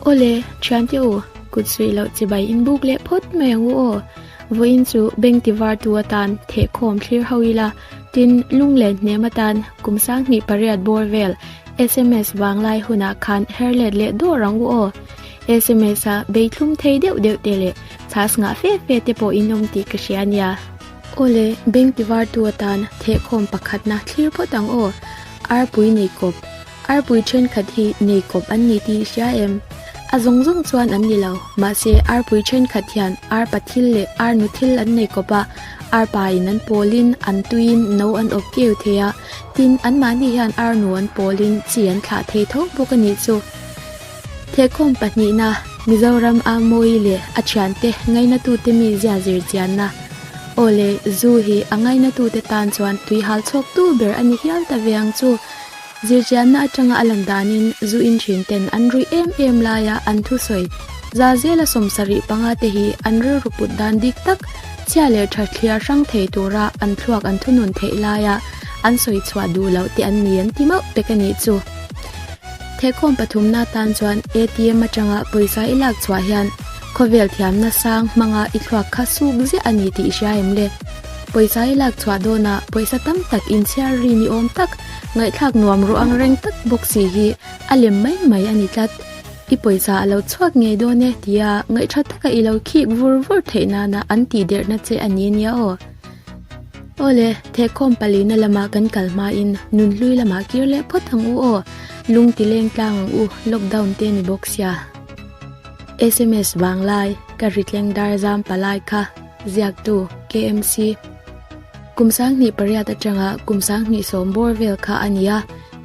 Aw le, Thiante u, kut suih loh che bai in buk leh phawt mai ang u aw. Vawiin chu beng ti var tu atan theh khawm thlir ho ila, tin lung len hnem atan kum sang hnih pariat bawr vel sms vang lai hunah khan her let leh dawr ang u aw. Sms a bei thlum thei deuh deuh te leh chas ngah fe fe te pawh in awm tih ka hria nia. Aw le, beng ti var tu atan theh khawm pakhatna thlir phawt ang aw. Arpui neikawp. Arpui thenkhat hi nei kawp an ni tih i hria em? A zawng zawng chuan an ni lo. Mahse, arpui thenkhat hian arpa thil leh arnu thil an nei kawp a, arpa in an pawl in, an tui in no an awp keu thei a. Tin, anmahni hian arnu an pawl in chi an thlah thei tho bawk a nih chu. Thekhawm pahnihna, Mizoram a mawi leh a thiante ngaihnatute mi zia zir chianna, aw le, zu hi a ngaihnatute tan chuan tuihal chhuak tu ber a ni hial ta ve ang chu. Zirchianna atanga a lan danin zu in thin ten an ruih em em laia an thu sawi za zela sawm sarih panga te hi an rilru put dan dik tak, chhia leh tha thliar hrang thei tura an thluak an thu nun theih laia an sawi chhuah duh loh teh an ni an ti mauh pek a nih chu. Thekawm pathumna atan chuan ATM atanga pawisa i lak chhuah hian khawvel thiamna sang hmanga i thluak kha suk ziah a ni tih hria em le? Pawisa i lak chhuah dawnah pawisa tam tak inchhiar ri ni awm tak Ngaihthlak nuam ru ang reng tak bawk si hi a lem mai mai a ni tlat. I pawisa a lo chhuak ngei dawn e tia ngaih tha taka i lo khik vur vur theih nana an tih derhna che a ni ania aw. Aw le, Thekhawm palina lama kan kal hmain nun hlui lamah kir leh phawt ang u aw, lung ti leng tlang ang u, lockdown te ni bawk sia. Sms vang lai ka hri tleng dar zam palai kha, ziaktu, KMC. Kum sanghnih pariat atanga kum sanghnih sawm bawr vel kha a ni a,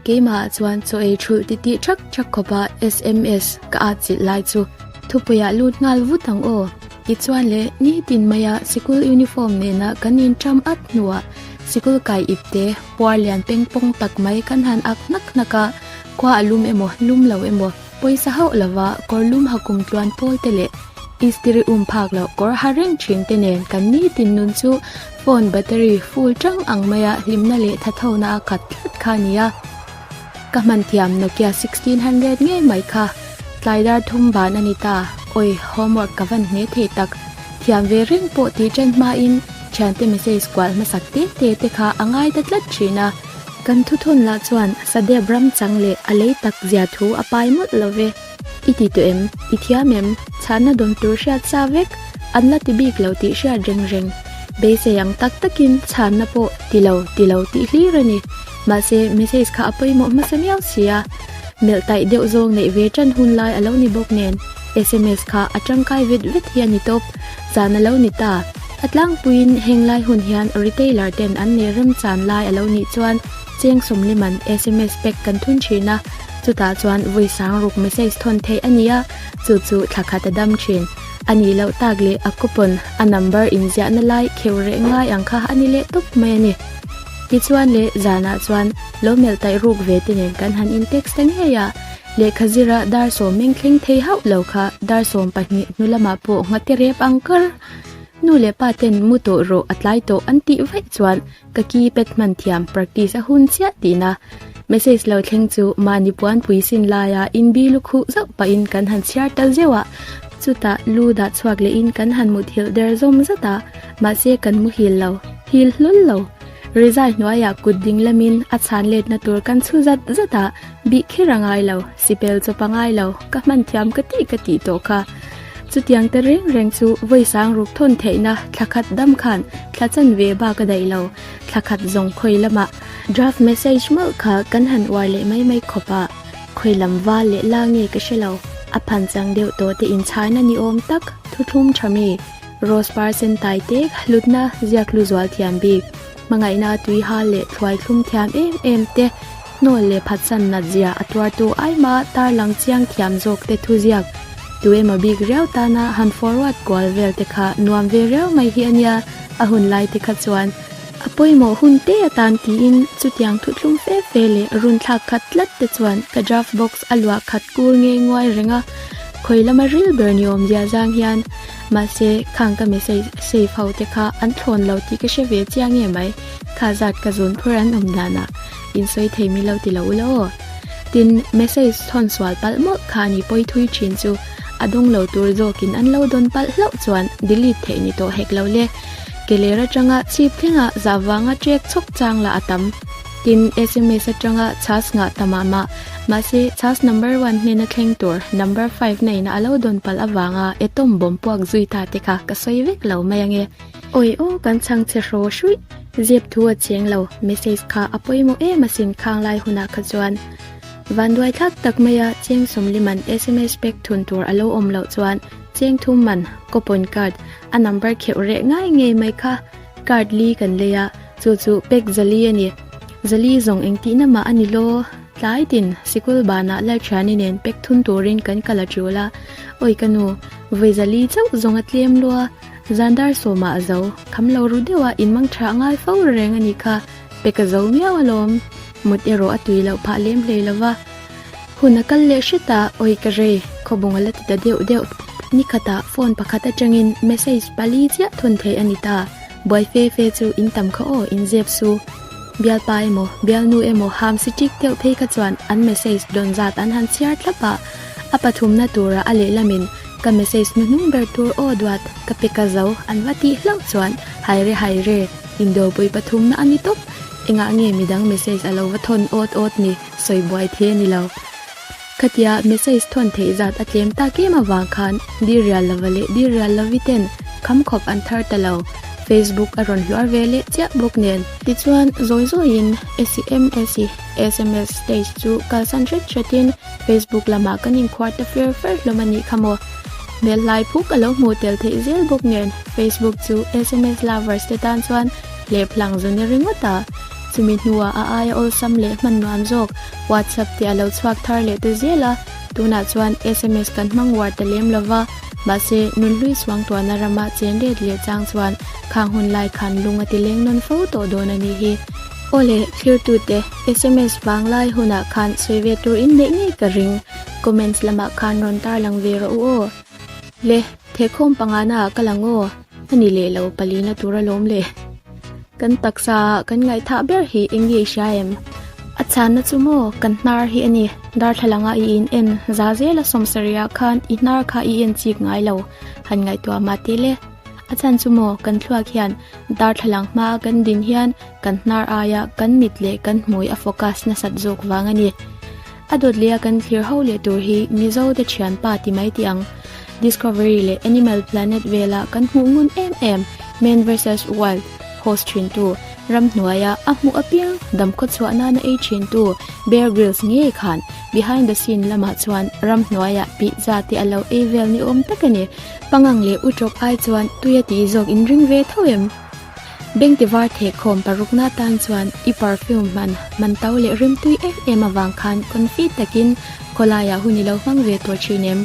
keimahah chuan chaw ei ṭhulh ti ti ṭhak ṭhak khawpa sms ka atzilh lai chu thupuiah lut nghal vut ang aw. Tichuan le nitin maia sikul uniform nena kan inṭam at hnuah sikul kai ip te puar lian pengpawng tak mai kan han ak hnak hnak a, khuaa lum emaw lum lo emaw, Pawisa hauh lova kawrlum ha kum tluan pawl te leh istiri um phak loh kawr ha reng thin te nen kan nitin nun chu phone battery full tang ang mai a hlimna leh thatho na a khat tlat kha a ni a. Ka hman thiam Nokia sixteen hundred ngei mai kha. Tlai dar thum van a ni ta, awih homework ka van hme thei tak. Thiam ve reng pawh tih chen hma in thiante message kual hmasak te te te kha a ngai ta tlat thin a. Kan thutun lah chuan Sadeb ram chang leh a lei tak zia thu a pai mawlh lo ve. I ti tawh em? I thiam em? Chhahna dawn tur hriat sa vek, an la ti bik lo tih hriat reng reng. Beisei ang tak takin chhahna pawh ti lo, ti lo tih hlir a ni. Mahse, message kha a pawimawh hmasa miau sia. Melh taih deuh zawng neih ve tan hun lai a lo ni bawk nen, sms kha a tangkai vet vet hi a ni tawp. Chan a lo ni ta. A tlangpuiin heng lai hun hian retailer ten an nei rem chan lai a lo nih chuan Cheng Sawmliman sms pack kan thun thin a, chutah chuan vui sang ruk message thawn theih a nia, chu chu thla khat a dam thin. A nih loh tak leh a coupon, a number inziahna lai kheu reh ngai ang kha a ni leh tawp mai a ni. Tichuan leh zanah chuan lo melh taih ruk ve te nen kan han in text ta ngei a. Lehkha zirah dar sawm meng thleng thei hauh lo kha dar sawm pahnih hnu lamah pawh nghate rep ang kar. Nu leh pa ten mu tawh rawh a tlai tawh an tih vaih chuan ka ki pet hman thiam practice a hun chiah tihna message lo thleng chu mahni puan puisin laia in bi lu khuh zauh pahin kan han chhiar ta zeuh a chutah lu dah chhuak leh in kan han mut hilh der zawm zat a mahse kan mu hil lo hil hlul lo result hnuaiah kut ding lamin a chhan letna tur kan chhu zat zat a. Bih kher a ngai lo, sibel chawp a ngai lo, ka hman thiam ka ti ka tih tawh kha. Chutiang te reng reng chu vawi sang ruk thawn theihna thla khat dam khan thla chan ve ba ka daih lo, thla khat zawng khawi lama draft message mauh kha kan han uar leh mai mai khawp a, khawi lam val leh la nge ka hre lo, a phan chang deuh tawh te in chhai na ni awm tak, thu thlum tha mi, rose par sen tai te, hlut na ziak hlu zual thiam bik, hmangaih na tui hal leh thluai thlum thiam em em te, Hnawl leh phatsan nat zia a tuartu ai ma tarlang chiang thiam zawk te thu ziak tu em a bik riau tana han forward kual vel te kha nuam ve riau mai hi a nia a hun lai te kha chuan a pawimawh hun te atan tiin chutiang thu thlum fe fe leh run thlak khat tlat te chuan ka draft box a luah khat kur ngei nguai reng a khawi lama ril ber ni awm zia zang hian mahse khang ka message save ho te kha an thlawn lo tih ka hre ve chiang em ai kha zat ka zun phur an awm dan a. In sawi thei mi lo ti lo u la aw. Tin, message chhawn sual palh mawlh kha a ni pawi thui thin chu. A dawng lo tur zawk in an lo dawn palh hlauh chuan delete theih ni tawh hek lo le. Ke ler atanga chhip thlengah zah vanga ṭek chawk chang la a tam. Tin, sms atanga chas nghah ta mah mah. Mahse, chas number one hnena thleng tur number five na ina a lo dawn palh avanga e tawm bawmpuak zui ta te kha ka sawi vek lo mai ang e. Awih aw kan chhang che hraw hruih. Ziep thu a cheng lo, message kha a pawimawh em asin khang lai hunah kha chuan vanduai thlak tak mai a cheng sawmli man sms pek thun tur a lo awm loh chuan cheng thum man coupon card a number kheuh reh ngai ngei mai kha card li kan lei a chu chu pek zali a ni zali zawng engtihna mah a ni law tlai tin sikul banah Lalthiani nen pek thun turin kan kal a tial a awih ka nu vawi zali chauh zawnga tlem lua. Zan dar sawma a zo. Kham lo ru deuh a, in mang tha a ngai fo reng a nih kha. Pek a zo miau alawm. Mut erawh a tui loh phah lem hlei lo va. Hun a kal leh hret a, Awi ka rei, khawbung a la ti ta deuh deuh. Ni khatah phone pakhat atangin message pali chiah thun theih a ni ta. Buai fe fe chu in tam kha aw, in zep su. Bialpa emaw, bialnu emaw ham si tik deuh phei kha chuan an message dawn zat an han chhiar thlap a. A pathumna tura a lehlamin. Ka message hnu hnung ber tur aw duat ka pe ka zo an va tih hlauh chuan Haire Haire in dopuii pathumna a ni tawp engah nge midang message a lo va thawn awt awt ni sawi buai thei a ni lo ka tia message thawn theih zat a tlem tak em avang khan Dir Rial Lova leh Dir Rial Lovi ten kham khawp an thar ta lo Facebook a rawn hluar ve leh chiah bawk nen. Tichuan zawi zawi in SMSSMS stage chu kalsan hret hret in Facebook lamah kan inkhuar ta fer fer hlawm a nih kha maw? Hmelhlai phuk a lo hmuh tel theih zel bawk nen, Facebook chu sms lovers te tan chuan leplang zun e ringawt a. Chumi hnuah a aia awlsam leh hmannuam zawk WhatsApp te a lo chhuak thar leh ta zel a, tunah chuan sms kan hmang uar ta lem lo va, mahse nun hlui suangtuahna rama chenret leh chang chuan khang hun lai khan lung a ti leng nawn fo tawh dawn a nih hi. Aw le, thirtute, sms vang lai hunah khan sawi ve tur in neih ngei ka ring, comments lamah khan rawn tarlang ve rawh u aw. Le, thekhawm pangana ah ka lang aw, a ni leh lo, pali na tur a lawm le. Kan taksa ah kan ngaihthah ber hi eng nge i hria em? A chhanna chu maw, kan hnar hi a ni, darthlalang a i in en za zel a sawm sarih ah khan i hnar kha i en chik ngai lo, han ngaihtuah mah te le. A chhan chu maw, kan thluak hian darthlalang hma a kan din hian kan hnar aia kan mit leh kan hmui a focus nasat zawk vang a ni. A dawtleia kan thlir ho leh tur hi Mizo te thianpa ti mai teh ang. Discovery leh Animal Planet vela kan hmuh ngun em em Man vs Wild host thintu, ram hnuaia a hmuh apir damkhua chhuah nana ei thintu Bear Grylls ngei khan behind the scene lamah chuan ram hnuaia pizza te a lo ei vel ni awm tak a ni. Pangang leh Utawk ai chuan tuia ti zawk in ring ve tho em? Bengte var theh khawm parukna tan chuan i perfume hman man to leh rimtui em em avang khan confit takin khawlaiah hun i lo hmang ve tawh thin em?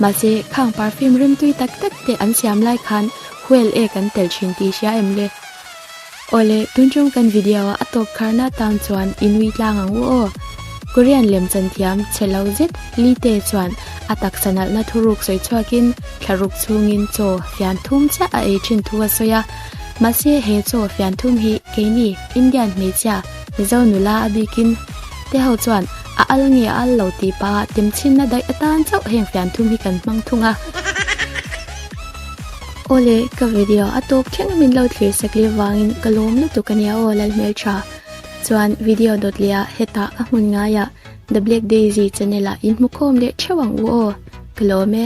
Mahse, khang perfume rimtui tak tak te an siam lai khan huel e kan tel thin tih i hria em le? Awle, tun ṭawng kan video a tawp kharna tan chuan i nui tlang ang u aw. Korean lem chanthiam che lo zet Lee Tae chuan a taksa nalhna thuruk sawi chhuakin thlaruk chhungin chaw fian thum chiah a ei ṭhin thu a sawi a. Mahse he chaw fian thum hi keini Indian hmeichhia Mizo nula a bikin te ho chuan a al nge a al lo tih pah ah temchinna daih atan chauh heng fian thum hi kan hmang thung a. Aw le, ka video a tawp thleng a min lo thlir sek leh vangin ka lawm lutuk a nia aw lal hmel tha. Chuan video dawt leh ah heta a hmun ngai ah The Black Daisy channel ah in hmukhawm leh theuh ang u aw, ka lawm e.